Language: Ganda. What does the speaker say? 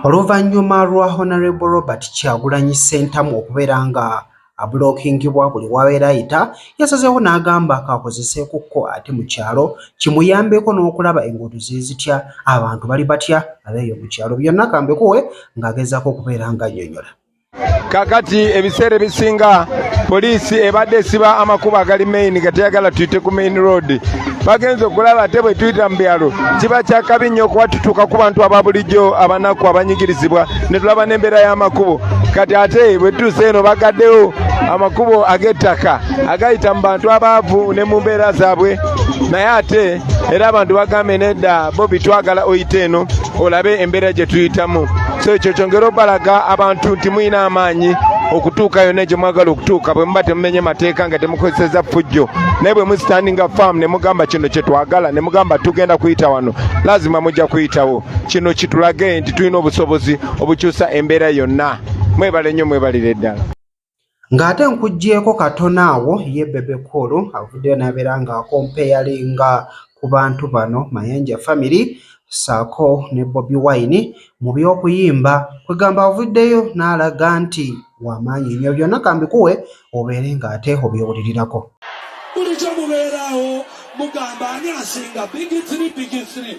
Oluvannyuma lwa Honourable Robert Kyagulanyi Ssentamu okubeera nga abulookingibwa buli w'abeera ayita, yasazeewo n'agamba kaakozeseekokko ate mu kyalo kimuyambeko n'okulaba enguudo ziri zitya, abantu bali batya ab'eyo mu kyalo. Byonna ka mbikuwe ng'agezaako okubeera ng'annyonnyola. kakati ebiseera ebisinga poliisi ebadde esiba amakubo agali main nga teyagala tuyite ku main road bagenza okulaba ate bwe tuyita mu byalo kiba kyakabi nnyo okuba tutuuka ku bantu aba bulijjo abanaku abanyigirizibwa ne tulaba n'embeera y'amakubo kati ate bwe tutuuse eno bagaddewo amakubo ag'ettaka agayita mu bantu abaavu ne mu mbeera zaabwe naye ate era abantu bagambye nedda bobi twagala oyite eno olabe embeera gye tuyitamu so ekyo kyongera obalaga abantu nti mulina amaanyi okutuuka yonna gye mwagala okutuuka bwe muba temumenye mateeka nga temukozeseza fujjo naye bwe musitandinga faamu ne mugamba kino kye twagala ne mugamba tugenda kuyita wano lazima mujja kuyitawo kino kitulage nti tulina obusobozi obukyusa embeera yonna mwebale nnyo mwebalire ddala Ng'ate nkuggyeeko katono awo ye Bebe Cool avuddeyo n'abeera ng'akompeyalinga ku bantu bano Mayanja Family ssaako ne Bobi Wine mu by'okuyimba kwegamba avuddeyo n'alaga nti wa maanyi nnyo byonna kambikuwe obeere ng'ate obyewulirirako. Bulijjo mubeeraawo mugamba ani asinga big three big three.